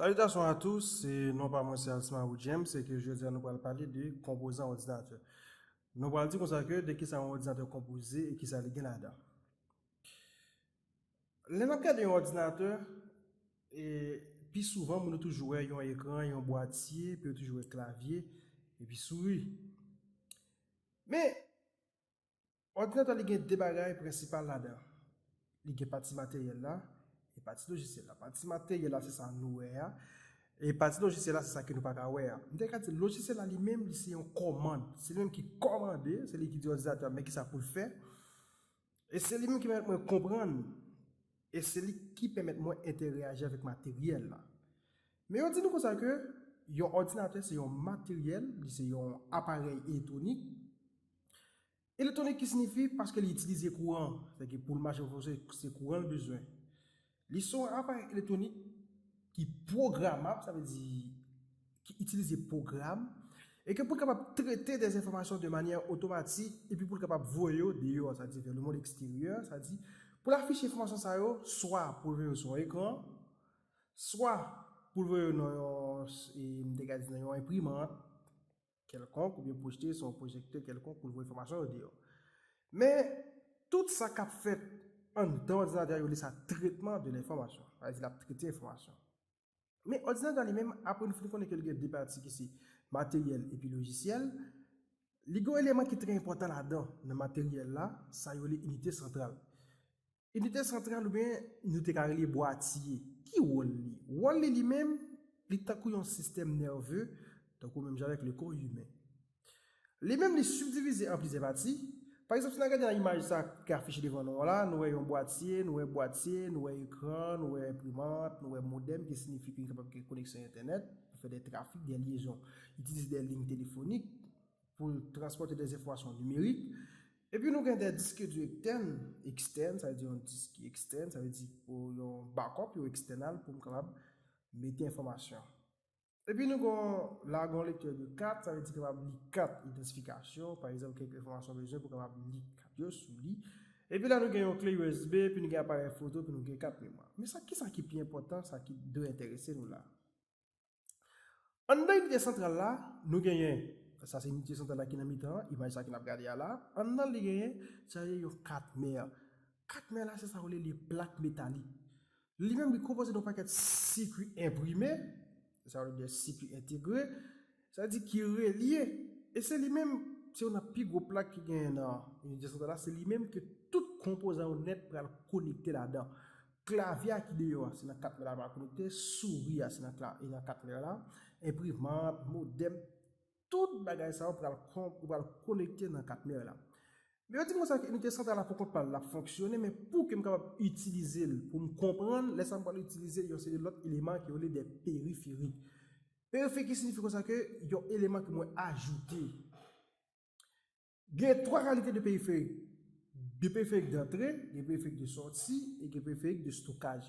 Salitasyon a tous, non pa mwen se Alsmaro James e ke jodi a nou pral pale de konpozan òdinatè. Nou pral di konsa ke de ki sa yon òdinatè konpoze e ki sa li gen ladan. Lè n ap gade yon òdinatè, pi souvan moun yo toujou wè yon ekran, yon bwatye, epi yo toujou wè klavye, epi souri. Men, Òdinatè li gen 2 bagay prensipal ladan, li gen pati materyèl la e pati lojisyèl la. Pati materyèl la se sa nou wè a, e pati lojisyèl la se sa ke nou pa ka wè a. M te ka di lojisyèl la li menm li se yon kòmand, se li menm ki kòmande, se li ki di òdinatè a men kisa pou l fè, e se li menm ki pèmèt mwen konprann, e se li ki pèmèt mwen entèreyaji avèk materyèl la. Men yo di nou konsa ke yon òdinatè se yon materyèl, li se yon aparèy eletronik, Elektwonik ki sinifi paske li itilize kouran, sa ki pou l mache fò se kouran l bezwen. Li se yon aparèy elektwonik ki pwogramab, sa vle di ki itilize pwogram, e ke pou l kapab trete de enfòmasyon de manyè otomatik epi pou l kapab voye yo deyò, sa vle di vè le mond eksteryè, sa vle di pou l afiche enfòmasyon sa yo swa pou l voye yo sou yon ekran, swa pou l voye yo nan yon, m te ka di nan yon enprimant. kèlkonk oubyen pwojte sou yon pwojektè kèlkonk pou l voye enfòmasyon yo deyò. Men, tout sa k ap fèt anndan òdinatè a yo rele sa trètman de lenfòmasyon. Sa vle di l ap trete enfòmasyon. Men, òdinatè a li menm, apre nou fin konnen ke l gen de pati ki se materyèl epi lojisyèl, li gen yon eleman ki trè enpòtan ladan nan materyèl la, sa yo rele inite santral. Inite santral oubyen nou te ka rele bwatye, ki wòl li? Wòl li li menm, li tankou yon sistèm nève, tankou menm jan avèk le kò imen. Li menm li sibdivize an plizyè pati, pa egzanp si n al gade nan imaj sa ki afiche devan nou an la, nou wè yon bwatye, nou wè bwatye, nou wè ekran, nou wè enprimant, nou wè modèm ki sinifi ke li kapab gen koneksyon entènèt pou fè dè trafik, dè lyezon, itilize dè lign telefonik. pou l transpòte dè enfòmasyon nimerik. Epi nou gen dè diske di ektèn, ekstèn, sa vle di yon disk ki ekstèn, sa vle di pou yon bakòp, yon ekstènal pou m kapab mete enfòmasyon. Epi nou gen la gen yon lektè de kat, sa vle di kapab li kat idantifikasyon, pa egzanp kèk enfòmasyon m bezwen pou kapab li kat yo sou li. Epi la nou gen yon kle usb, epi nou gen aparèy foto, epi nou gen kat memwa. Men sa kisa ki pi enpòtan, sa ki dwe enterese nou la? Anndan inite santral la, nou genyen, sa se inite santral la ki nan mitan an, imaj sa ki n ap gade a la, anndan li genyen sa rele yon katmè. Katmè la se sa yo rele plak metalik. Li menm li konpoze de yon pakèt sikui enprime, se sa yo rele sikui entegre, sa vle di ki relye, e se li menm, se youn nan pi gwo plak ki genyen nan inite santral la, se li menm ke tout konpozan yo nèt pral konekte ladan. Klavye a ki deyò a se nan kat mè la pral konekte, souri a se nan e nan kat mè la, enprimant, modem, tout bagay sa yo pral ou pral konekte nan kat mè la. Men yo di m konsa ke inite santral la pou kont pa l l ap fonksyone men pou ke m kapab itilize l pou m konprann lè sa m pral itilize yon seri lòt eleman ke yo rele de periferi. Periferi ki signifi konsa ke yon eleman ke mwen ajoute. Gen 3 kalite de periferik, de periferik dantre, de periferik de sòti e de periferik de stokaj.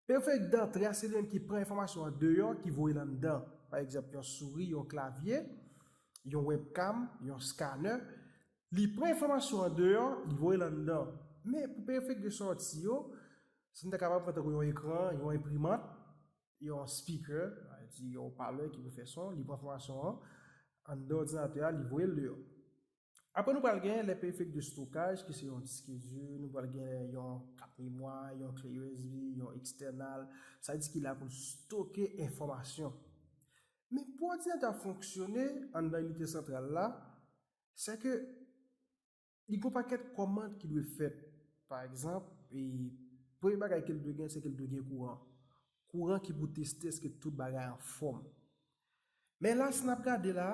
Periferik dantre a se li menm ki pran enfòmasyon an deyò ki voye l anndan, pa egzanp yon souri, yon klavye, yon webcam, yon scanner. Li pran enfòmasyon an deyò, li voye l anndan. Men pou periferik de sòti yo, sa nou ta kapab pran tankou yon ekran, yon enprimant, yon speaker, sa vle di yon opalè ki pou fè son, li pran enfòmasyon an anndan òdinatè a, li voye l deyò. Apre nou pral gen lè perifèrik de stokaj ki se yon diske di, nou pral gen yon kat memwa, yon kle usb, yon ekstènal, sa vle di ki la pou l stoke enfòmasyon. Men pou òdinatè a fonksyone anndan inite santral la, sèke Li gon pakèt kòmand ki dwe fèt. Pa egzanp, premye bagay ke l dwe gen se ke l dwe gen kouran. Kouran ki pou teste eske tout bagay anfòm. Men la si n ap gade la,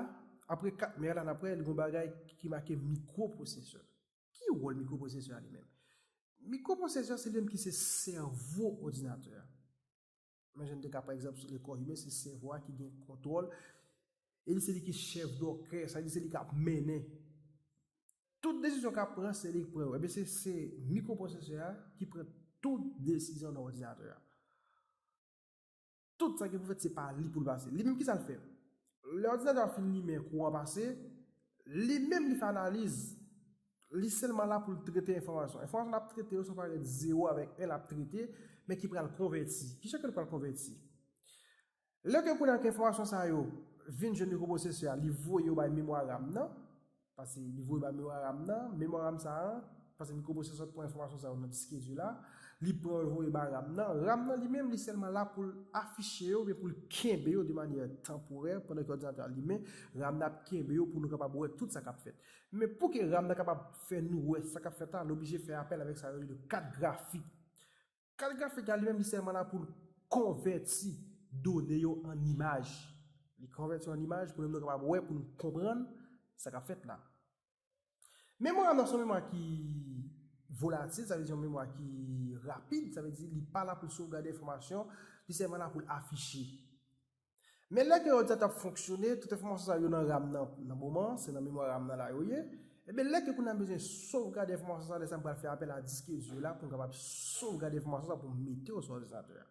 apre 4 mè a la n ap wè li gon bagay ki make mikwoprosesè. Ki wòl mikwoprosesè a li menm? Mikwoprosesè se li menm ki se sèvo òdinatè a. Men jan n te ka pran egzanp sou le kò imen, se sèvo a ki gen kontwòl e li se li ki chèf dòkè, sa vle di se li k ap mennen. Tout desizyon k ap pran se li k pran yo. Ebyen se se mikropwosesè a ki pran tout desizyon nan òdinatè a. Tout sa ki pou fèt se pa li pou l pase. Li menm ki sa l fè? Lè òdinatè a fin limen, kouran pase, li menm li fè analiz, li sèlman la pou l trete enfòmasyon. Enfòmasyon l ap trete yo se yon parèt zewo avèk en l ap trete, men ki pral konvèti. Ki sa ke l pral konvèti? Lè ke kounye a ke enfòmasyon sa yo vin jwenn mikwoprosesè a, li voye yo bay memwa ram nan, Pase li voye ba memoram nan, memoram sa a, pase mikwoprosesè a pran enfòmasyon sa yo nan diske di la, li pran yo li voye ba ram nan, ram nan li menm li sèlman la pou l afiche yo oubyen pou l kenbe yo de manyè tanporè pandan ke òdinatè a limen, ram nan ap kenbe yo pou nou kapab wè tout sa k ap fèt. Men pou ke ram nan kapab fè nou wè sa k ap fèt la, nou oblije fè apèl avèk sa yo rele kat grafik. Kad grafik la li menm li sèlman la pou l konvèti done yo an imaj. Li konvèti yo an imaj pou nou menm nou kapab wè, pou nou konprann sa k ap fèt la. Memwa nou se yon memwa ki volatil, sa vle di yon memwa ki rapid, sa vle di li pa la pou l sovgade enfòmasyon, li sèlman la pou l afiche. Men lè ke òdi a t ap fonksyone, tout enfòmasyon sa yo nan ram nan, nan moman an, se nan memwa ram nan la yo ye, enben lè ke kounya m bezwen sovgade enfòmasyon sa, lè sa m pral fè apèl a diske di yo la pou m kapab sovgade enfòmasyon sa pou m mete yo sou òdinatè a.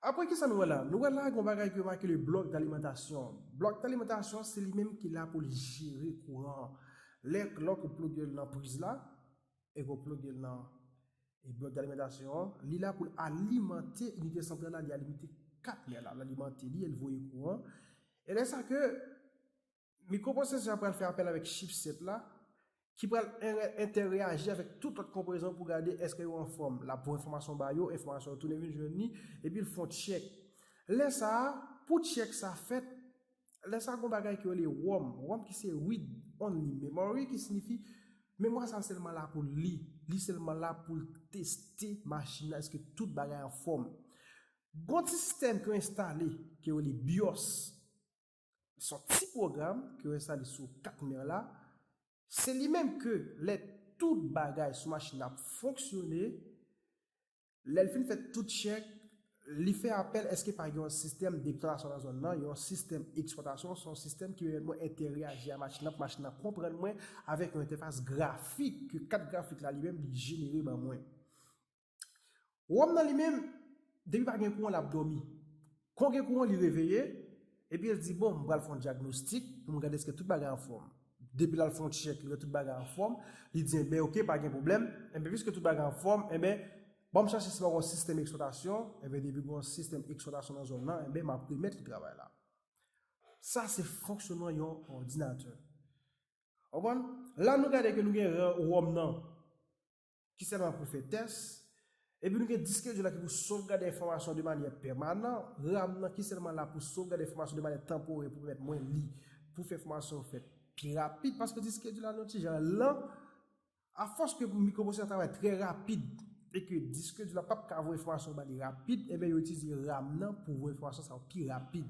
Aprè kisa nou wè la? Nou wè la gen yon bagay ke yo make le blòk dalimantasyon. Blòk dalimantasyon an se li menm ki la pou li jere kouran an. Lè, lò ke w ploge l nan priz la, e pou ploge l nan blòk de alimantasyon an, li la pou l alimante inite santral la, li alimante 4 nè la, l alimante li e l voye kouran, e lè sa ke mikropwosesè a pral fè apèl avèk chipsèt la, ki pral entèreyaji avèk tout lòt konplezan pou gade èske yo anfòm, l ap voye enfòmasyon ba yo, enfòmasyon yo tounen vin jwenn li, epi l fon tchèk. Lè sa a, pou tchèk sa fèt, Lè sa gon bagay ki rele Rhum, Rhum ki se Read Only Memory ki sinifi memwa sa sèlman la pou l li, li sèlman la pou l teste machin nan èske tout bagay anfòm. Gon ti sistèm ki yo enstale ki yo rele Bios, se yon ti pwogram ki yo enstale sou kat mè la, se li menm ke lè tout bagay sou machin nan ap fonksyone, Lèl fin fè tout chèk Li fè apèl eske pa gen yon sistèm deklarasyon nan zòn nan yon sistèm eksplwatasyon son sistèm ki pèmèt mwen entèreaji a machin nan pou machin nan konprann mwen avèk yon entèfas grafik ke kat grafik la li menm li jenere ban mwen wòm nan li menm depi pa gen kouran lap dòmi Kon gen kou an li reveye, epi el di bon m pral fè yon dyagnostik pou m gade eske tout bagay anfòm. Depi lal fè yon tchèk li wè tout bagay anfòm, li di enben ok pa gen pwoblèm, enben piske tout bagay anfòm enben banm chache si pa gen yon sistèm eksplwatasyon, enben depi gen yon sistèm eksplwatasyon nan zòn nan enben map remèt li travay la. Sa se fonksyonman yon òdinatè. Ou konprann? La nou gade ke nou gen ròm nan. ki sèlman pou fè tès, epi nou gen diskedjil la ki pou sovgade enfòmasyon de manyè pèmanan, ram nan ki sèlman la pou sovgade enfòmasyon de manyè tanporè pou pèmèt mwen li pou fè fòmasyon yo fèt pi rapid, paske diskedjil la yon ti jan lan, afòs ke mikropwosesè a travay trè rapid, e ke diskedjil la pap ka voye enfòmasyon yo ba li rapid, enben yo itilize ram nan pou voye enfòmasyon sa yo pi rapid.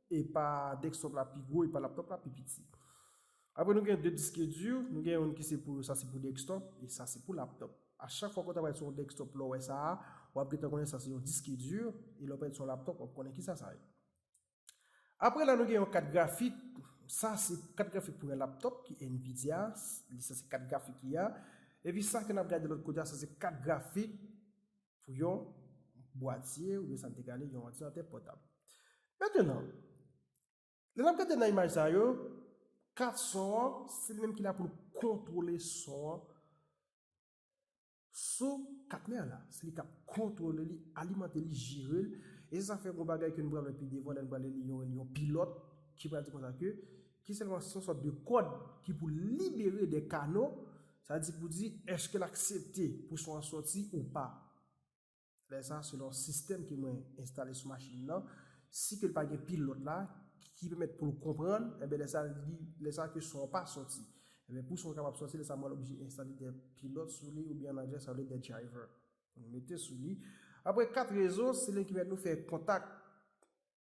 E pa desktop la pi gwo e pa laptop la pi piti. Apre nou gen 2 diske di, nou gen youn ki se pou sa se pou desktop e sa se pou laptop. A chak fwa ke w travay sou yon desktop lè w wè sa a, wap gentan konnen sa se yon diske di e lè w pale sou yon laptop wap konnen kisa sa ye. Apre la nou gen yon kat grafik, sa se kat grafik pou yon laptop ki Nvidia, sa se kat grafik li a. Epi sa ke nap gade lòt kote a sa se kat grafik pou yon bwatye oubyen sa n te rele yon òdinatè pòtab. Mentenan, lè n ap gade nan imaj sa yo, kat son an, se li menm ki la pou l kontwole son an sou kat mè la. Se li k ap kontwole li, alimante li, jere l. E se sa k fè gon bagay ke nou pral wè pi devan lè n pral li li yo rele yon pilòt ki pral di konsa ke ki sèlman se yon sòt de kòd ki pou libere de kano Sa di pou di, èske l aksepte pou son an soti ou pa. Lè sa, selon sistèm ke mwen enstale sou machin nan, si ke l pa gen pilòt la, ki pèmèt pou l konprann, enben lè sa, li, lè sa ke son an pa soti. Enben pou son an kapab soti, lè sa mwen oblije enstale de pilòt sou li, oubyen an anglè sa rele de driver, pou nou mete sou li. Aprè 4 rezon, se li menm ki pèmèt nou fè kontak.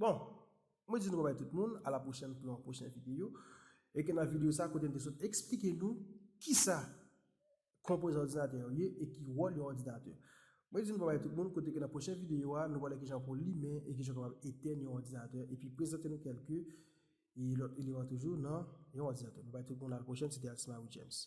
Bon, mwen di nou babay tout moun, a la pwochèn pou yon pwochèn videyo, e ke nan videyo sa kote m te sot eksplike nou kisa konpoze òdinatè yo ye e ki wòl yon òdinatè. Mwen di nou babay tout moun kote ke nan pwochèn videyo a nou pwale kijan pou limen e kijan kapab etèn yon òdinatè e pi prezante nou kèlke lòt eleman toujou nan yon òdinatè. Babay tout moun a la pwochèn se te Alcimari James.